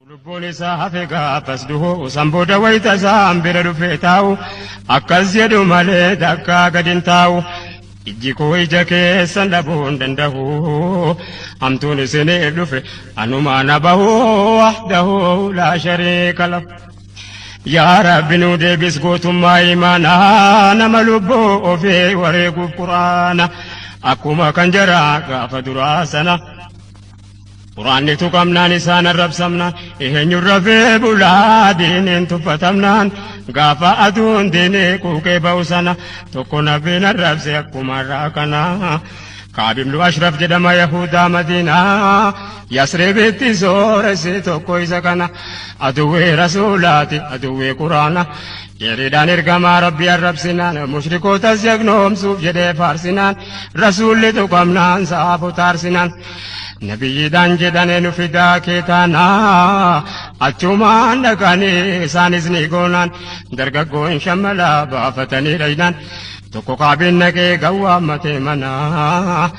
Lubbuun isaa hafe gaafas du'u san booda wayita isaan bira dhufee taa'u akkas jedhu malee takkaa gad hin taa'u. Ijji koo ija keessan dhabuu hin danda'u hamtuun isiniif dhufe anumaa na bahu wahdahu laa shariika lahu. Yaa Rabbi nu deebis gootummaa imaanaa nama lubbuu ofii wareeguuf quraana akkuma kan jaraa gaafa duraa sana. Quraanni tuqamnaan isaan arrabsamna eenyuun rafee bulaa diiniin tuffatamnaan gaafa aduun diinii quuqee ba'u sana tokko nabiin arrabse akkuma irraa kana kaabibnu ashraf jedhama yahudaa madiinaa yasribitti sooresse tokko isa kana aduwwee rasuulaati aduwwee quraana Yeridaan ergamaa rabbi arrabsinaan mushrikootas jagnoomsuuf jedhee faarsinaan rasuulli tuqamnaan saafota aarsinaan Nabiyyiidhaan jedhane nu fidaa kee taanaa achumaan dhaqanii isaanis ni goonaan dargaggoon shammalaa baafatanii dhaynaan tokko kaabiin naqee gawwaa matee manaa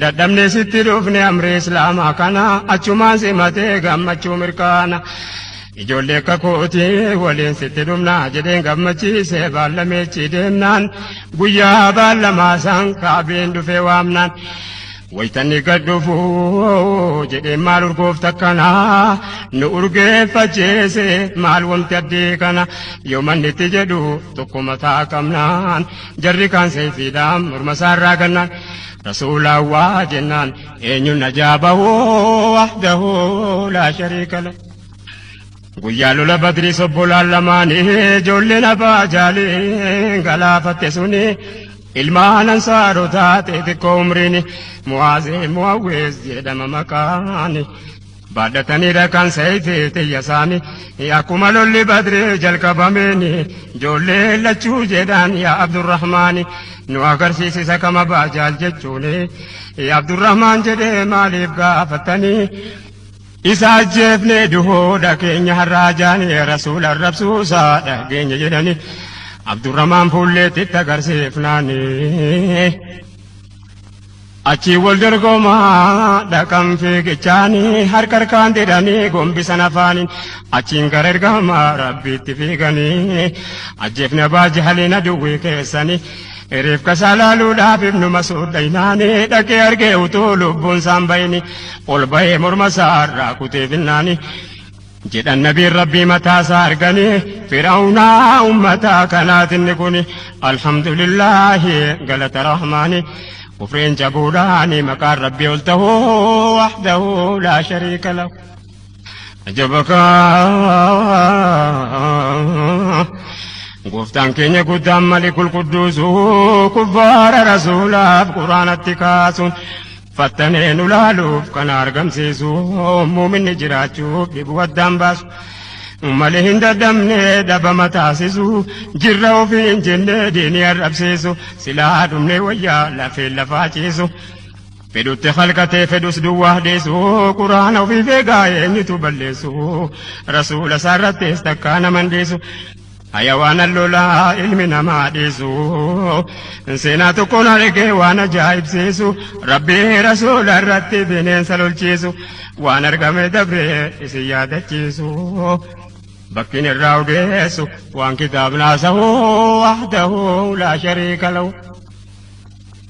dadhabne sitti dhufne amrii islaamaa kana achumaan simatee gammachuu mirkaana. Ijoollee akka kootii waliin sitti dhumnaa jedheen gammachiisee baallameechi deemnaan guyyaa baallamaa isaan kaabiin dhufee waamnaan. Waytanni gad dhufu jedhee maal urgoofta kana nu urgeeffacheese maal wamti addee kana yoo manni itti jedhu tokko mataa qabnaan jarri kaan seefiidhaan morma isaarraa gannaan rasuulaa waa jennaan eenyuun najaa bahoo wahdahoo laa shariikala. Guyyaa lola badrii sobbolaan lamaanii ijoolleen abbaa jaalee galaafatte suni. Ilmaan ansaarotaa xixiqqoo umriin mu'aazee mu'awwees jedhama maqaan baadhataniidha kan sayfii xiyya isaanii akkuma lolli badree jalqabameen ijoollee lachuu jedhaan yaa abdurrahmaani nu agarsiisisa kama baajaal jechuun abdurrahmaan jedhee maaliif gaafatanii Isa ajjeefnee duhuudha keenya har'aa jaanii rasuula arrabsuusaa dhageenya jedhanii Abdurramaan fuulleetti itti agarsiifnaanii. Achii wal dorgomaa dhaqan fiigichaanii harka harkaan didhanii gombisan afaaniin achiin gara ergamaa rabbiitti fiiganii ajjeefna baajahaliin aduwwii keessanii. Reefkasaa laaluudhaaf ibnuma suudhaynaani dhaqee argee utuu lubbuun saan bayini ol bahee morma isaa irraa kutee finnaani jedhan nabiin rabbii mataa isaa arganii fir'awnaa ummataa kanaatinni kuni alhamdulillaahi galata rahmaani kufriin cabuudhaani maqaan rabbii ol tahuu wahdahu laa shariika lahu Ajabakaa Gooftaan keenya guddaan mali qulqudduusu kubbaara rasuulaaf quraanatti kaasuun fattanee nu laaluuf kana argamsiisu muuminni jiraachuuf dhibu addaan baasu mali hin dadhabne dhabama taasisu jirra ofii hin jenne diinii arrabsiisu silaa dhumne wayyaa lafeen lafaa ciisu. Fedhutti khalqatee fedhus duwwaa deessu Quraana ofiif eegaa eenyutu balleessu Rasuula isaarrattis takkaa naman deessu Hayawaana lolaa ilmi namaa dheessu Seenaa tokkoon argee waan ajaa'ibsiisu Rabbii rasuula irratti bineensa lolchiisu Waan argame dabree isin yaadachiisu Bakkiin irraa odeessu waan kitaabnaa sahu Wahdahu laa shariika lahu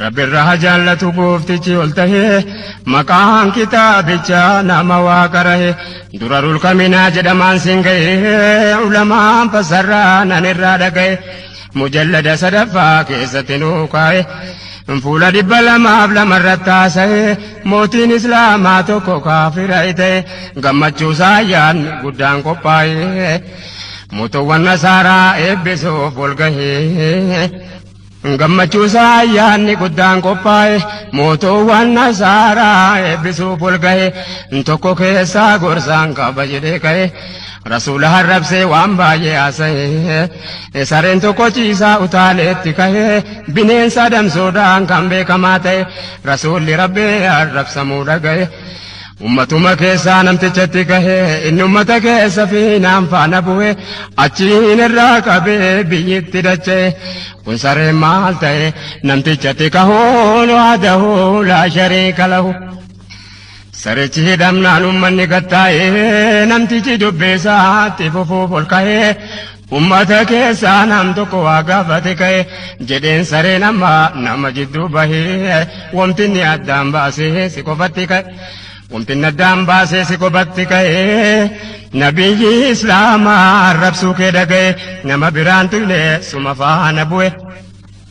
Rabbi irra ha jaallatu gooftichi ol tahe maqaan kitaabicha nama waa qarahe dura rulkaminaa jedhamaan sin ga'e ulamaan fassarraa nan irraa dhaga'e mujallada sadaffaa keessatti nuu kaa'e fuula dhibba lamaaf lamarratti haasa'e mootiin islaamaa tokko kaafira ta'e gammachuu saayyaan guddaan qophaa'e mootowwan nasaaraa eebbisuuf ol gahee. Gammachuu isaa ayyaanni guddaan qophaa'e mootoowwan nasaaraa eebbisuuf ol gahe tokko keessaa gorsaan qaba jedhee ka'e rasuula harrabsee waan baay'ee haasa'e sareen tokko ciisaa utaaleetti ka'e bineensa adamsuudhaan kan beekamaa ta'e rasuulli rabbi harrabsamuu dhaga'e. Ummatuma keessaa namticha itti kahe, inni ummata keessa fiinaan faana bu'e, achiin irraa qabee biyyitti dacha'e. Kun sareen maal ta'e? Namticha itti kahuun wahdahu laa shariika lahu. Sarichi hidhamnaan ummanni gattaa'ee, namtichi dubbii isaatti fufuuf ol ka'ee, Ummata keessaa nam tokko waa gaafate ka'e jedheen sareen amma nama jidduu bahee wamtinni addaan baasee si qofatti ka'e. Wamtinni addaan baasee si qofatti ka'e nabiyyi islaamaa arrabsuu kee dhaga'e nama biraan tuyne suma faana bu'e.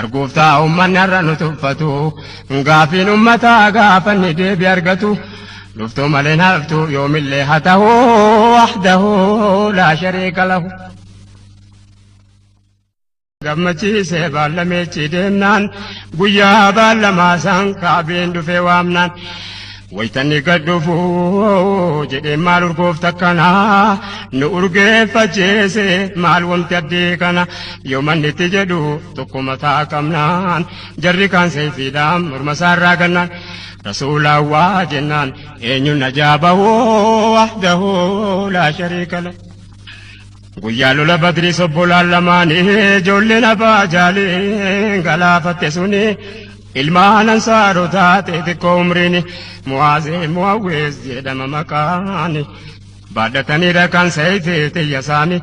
Arguuftaa ummanni har'a nu tuffatu gaafiin ummataa gaafanni deebi argatu dhuftuu malee haftu yoomillee haa tahu wahdahu laa shariika lahu. gammachiisee baallameechi deemnaan guyyaa baallamaa isaan kaabeen dhufee waamnaan. Waytan eeggadhuufu jedhee maal urgoofta kana nu urgeeffacheese maal wamti addee kana yoo manni itti jedhu tokko mataa qabnaan jarri kaan seefiidhaan morma isaarraa gannaan rasuulaa waa jennaan eenyuun najaa bahuu wahdahuu laa shariika la. Guyyaa lola badrii sobbolaan lamaanii ijoolleen abbaa jaalee galaafatte suni Ilmaan ansaarotaa xixiqqoo umriin mu'aazee mu'awwees jedhama maqaan baadhatanii rakkan sayfii xiyya saami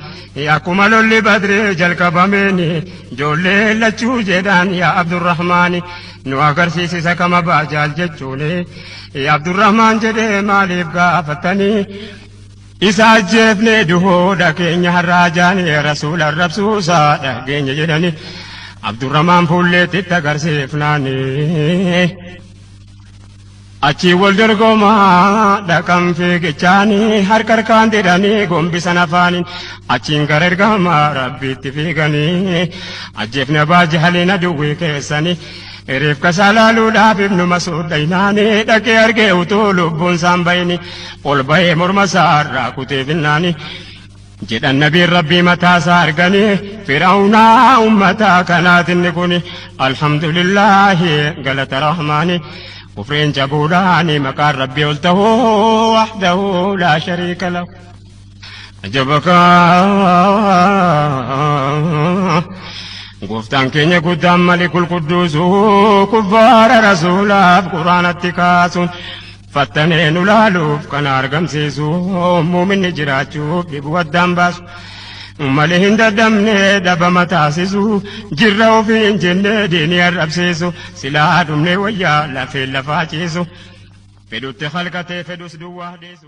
akkuma lolli badree jalqabameen ijoollee lachuu jedhaan yaa abdurrahmaani nu agarsiisisa kama baajaal jechuun abdurrahmaan jedhee maaliif gaafatanii Isa ajjeefne duhuudha keenya har'aa jaani rasuula arrabsuu isaa dhageenya jedhani Abdurramaan fuulleetti itti agarsiifnaani. Achii wal dorgomaa dhaqan fiigichaanii harka harkaan didhanii gombisan afaaniin achiin gara ergamaa rabbiitti fiiganii ajjeefne abaa jahaliin aduwwii keessanii. Hirifkasaa laaluudhaaf ibnu masuud dhaynaanii dhaqee argee utuu lubbuun saan bayini ol bahee morma isaa irraa kutee finnaanii jedhan nabiin rabbii mataa isaa arganii fir'aunaa ummataa kanaatinni kuni alhamdulillaahi galata rahmaanii kufriin cabuudhaani maqaan rabbii ol tahuu wahdahu laa shariika lahu ajabakaa gooftaan keenya guddaan malikul qudduusu kubbaara rasuulaaf quraanatti kaasuun fattanee nu laaluuf kana argamsiisu muuminni jiraachuuf dhibu addaan baasu malee hin dadhabne dhabama taasisu jirra ofii hin jenne diinii arrabsiisu silaa dhumne wayyaa lafeen lafaa ciisu fedhutti halkatee fedhus duwwaa dhiisu.